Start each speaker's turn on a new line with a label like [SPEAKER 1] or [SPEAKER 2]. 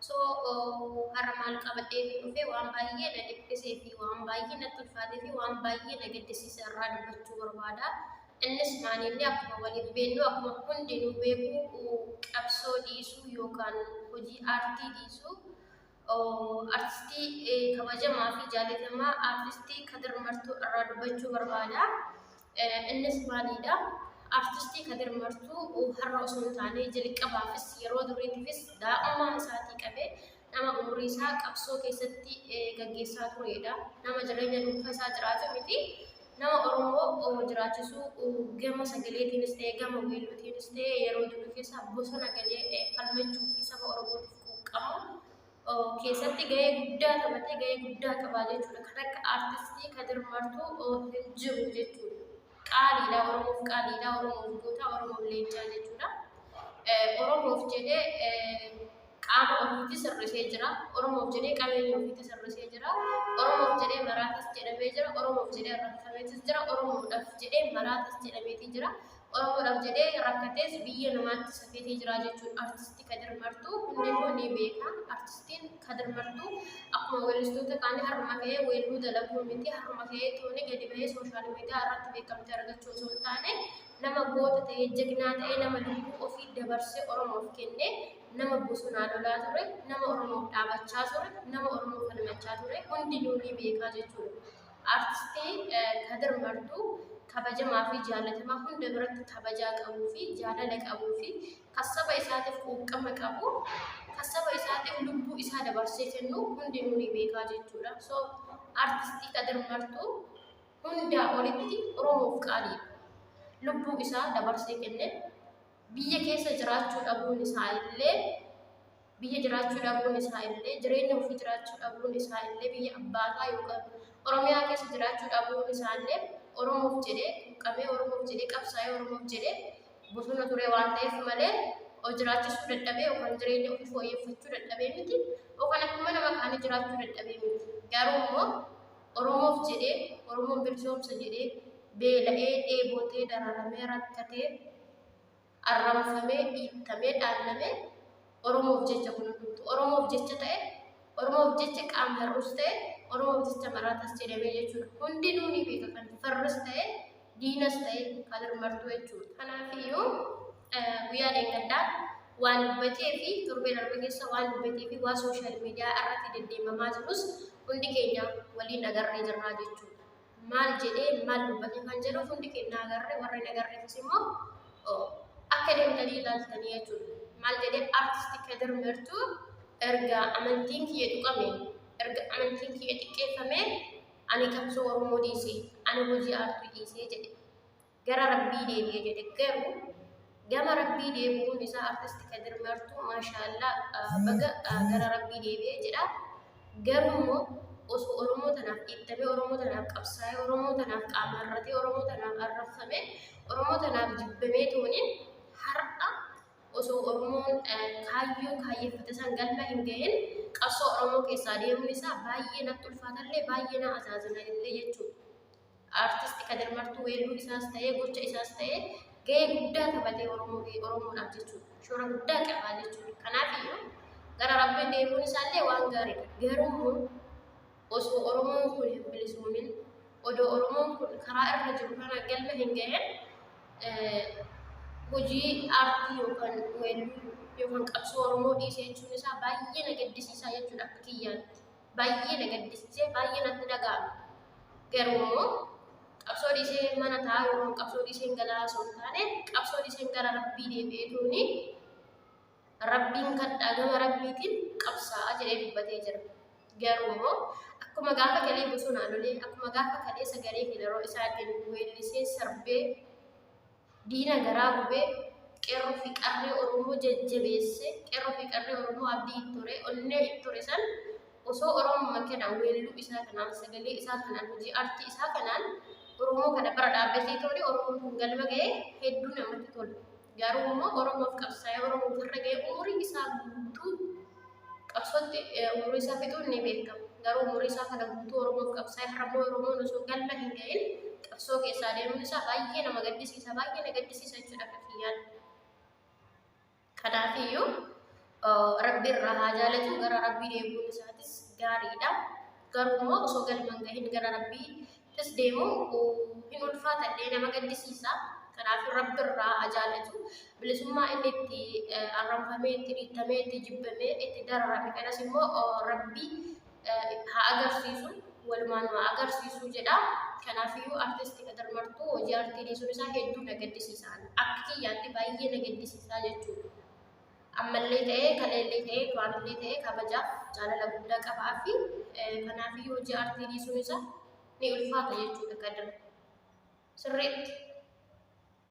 [SPEAKER 1] So har'a maal qabadhee fi dhufee waan baay'ee na dhiphisee fi waan baay'ee natti ulfaatee fi waan baay'ee na gaddisiise irraa dubbachuu barbaada. Innis maali inni akkuma waliin beennu akkuma hundi nu beeku qabsoo dhiisuu yookaan hojii aartii dhiisuu artistii kabajamaa fi jaalatamaa artistii Kadir Martuu irraa dubbachuu barbaada. Innis maaliidha? Artistii Kadir Martuu har'a osoo hin taane jalqabaafis yeroo duriitifis daa'ummaa isaatii qabee nama umurii isaa qabsoo keessatti gaggeessaa tureedha. Nama jireenya dhuunfaa isaa jiraatu miti. Nama Oromoo jiraachisuu gama sagaleetiinis ta'e gama weelluutiinis ta'e yeroo duriifis bosona galee falmachuu fi saba Oromootiif quuqqamu keessatti gahee guddaa taphatee gahee guddaa qabaa jechuudha. Kan akka artistii Kadir Martuu hin jiru jechuudha. Qaaliidha Oromoof qaaliidha Oromoof goota Oromoof leencaa jechuudha. Oromoof jedhee qaama ofiitti sirrisee jira. Oromoof jedhee qabeenya ofiitti sirrisee jira. Oromoof jedhee maraatis jedhamee jira. Oromoof jedhee arrabsameetis jira. Oromoodhaaf jedhee maraatis jedhameetii jira. Oromoodhaaf jedhee rakkatees biyya namaatti safeetee jiraa jechuun artisti Kadir Martuu hundi immoo ni beeka. Artistiin Kadir Martuu akkuma weellistoota kaanii harma ka'ee weelluu dalaguu miti harma ka'ee tooni gadi bahee sooshaal miidiyaa irratti beekamtii argachuu osoo hin taane nama goota ta'ee jagnaa ta'ee nama lubbuu ofii dabarsee Oromoof kenne nama bosonaa lolaa ture nama Oromoof dhaabachaa ture nama Oromoof falmachaa ture hundi ni beekaa jechuudha. Artistii Kadir Martuu kabajamaa fi jaalatamaa hunda biratti kabajaa qabuu fi jaalala qabuu fi kan saba isaatiif quuqqama qabu kan saba isaatiif lubbuu isaa dabarsee kennu hundinuu ni beekaa jechuudha. So artistii Kadir Martuu hundaa olitti Oromoof qaaliidha. Lubbuu isaa dabarsee kenne biyya keessa jiraachuu dhabuun isaa illee biyya jiraachuu dhabuun isaa illee jireenya ofii jiraachuu dhabuun isaa illee biyya abbaasaa yookaan Oromiyaa keessa jiraachuu dhabuun isaa illee Oromoof jedhee quuqamee Oromoof jedhee qabsaa'ee Oromoof jedhee bosona turee waan ta'eef malee of jiraachisuu dadhabee yookaan jireenya ofii fooyyeffachuu dadhabee miti yookaan akkuma nama kaanii jiraachuu dadhabee miti garuu immoo Oromoof jedhee Oromoon bilisoomsa jedhee beela'ee dheebotee dararamee rakkatee arrabsamee, dhiittamee, dhaallamee Oromoof jecha kun hundumtuu Oromoof jecha ta'e, Oromoof jecha qaam hir'uus ta'e, Oromoof jecha maraatas jedhamee jechuudha. Hundinuu ni beeka kan farras ta'e, diinas ta'e kan hirmartuu jechuudha. Kanaaf iyyuu guyyaa dheengaddaa waan dubbatee fi torbee darbe keessa waan dubbatee fi waan sooshaal miidiyaa irratti deddeemamaa jirus hundi keenya waliin agarree jirraa jechuudha. maal jedhee maal dubbate kan jedhu hundi keenya agarre warri nagarreefis immoo akka deemtanii ilaaltanii jechuudha. Maal jedhee artisti Kadir Mertuu erga amantiin kiyya tuqame erga amantiin kiyya xiqqeeffame ani qabsoo Oromoo dhiise ani hojii aartii dhiisee jedhe. gara rabbii deebi'e jedhe garuu gama rabbii deebi'uun isaa artisti kadir martuu maashaallaa baga gara rabbii deebi'e jedha garuu immoo osoo oromoo tanaaf dhiittamee oromoo tanaaf qabsaa'ee oromoo tanaaf qaamarratee oromoo tanaaf arrabsamee oromoo tanaaf jibbamee tooniin har'a osoo oromoon kaayyoo kaayyeffate san galma hin gahin qabsoo oromoo keessaa deemuun isaa baay'ee natti ulfaatallee baay'ee na azaazina illee jechuudha. Artisti Kadir Martuu weelluu isaas ta'ee gocha isaas ta'ee gahee guddaa taphatee Oromoo fi Oromoodhaaf jechuudha. Shoora guddaa qabaa jechuudha. Kanaaf iyyuu gara Rabbii deemuun isaallee waan gaariidha. Garuu immoo osoo Oromoon kun hin bilisoomin, odoo Oromoon kun karaa irra jiru kana galma hin gahin hojii aartii yookaan weelluu yookaan qabsoo Oromoo dhiisee jechuun isaa baay'ee na gaddisiisaa jechuudha akka kiyyaatti. baay'ee na gaddisiisee baay'ee natti dhaga'ame. Garuu immoo qabsoo dhiisee mana taa'aa yookaan qabsoo dhiisee galaa osoo hin taane qabsoo dhiisee gara rabbii deebi'ee tuuni rabbiin kadhaa gama rabbiitiin qabsaa'a jedhee dubbatee jira. Garuu immoo akkuma gaafa galee bosonaa lolee akkuma gaafa kaleessa garee filaroo isaatiin weellisee sarbee Diina garaa gube, qeerroo fi qarree Oromoo jajjabeesse, qeerroo fi qarree Oromoo abdii itti hore, onnee itti hore san osoo Oromuma kana weelluu isaa kanaan, sagalee isaa kanaan, hojii artii isaa kanaan Oromoo kana bara dhaabbatee toone Oromoon kun galma ga'ee hedduu namatti tola. Garuu immoo Oromoof qabsaa'ee Oromoo ofirra ga'ee umurii isaa guutuu qabsootti umurii isaa fixuun ni beekama. Garuu umurii isaa kana guutuu Oromoof qabsaa'ee har'ammoo Oromoon osoo galma hin ga'in qabsoo keessaa deemuun isaa baay'ee nama gaddisiisa baay'ee na gaddisiisa jechuudha akka kiyyaan. Kanaafiyyuu rabbi irraa haa jaalatu gara rabbii deemuun isaatis gaariidha. garuu immoo osoo galma hin gahin gara rabbiittis deemu hin ulfaata illee nama gaddisiisa kanaaf rabbi irraa haa jaallatu bilisummaa inni itti arranfamee itti dhiittamee itti jibbamee itti dararame kanas immoo rabbi haa agarsiisu walumaan haa agarsiisu jedha kanaafiyyuu artisti Kadir Martuu hojii artii dhiisuun isaa hedduu na gaddisiisa akka kiyyaatti baay'ee na gaddisiisaa jechuudha. ammallee ta'ee kaleellee ta'ee duraanillee ta'ee kabajaaf jaalala guddaa qaba fi kanaafiyyuu hojii aartii dhiisuun isaa ni ulfaata jechuudha kadira sirriitti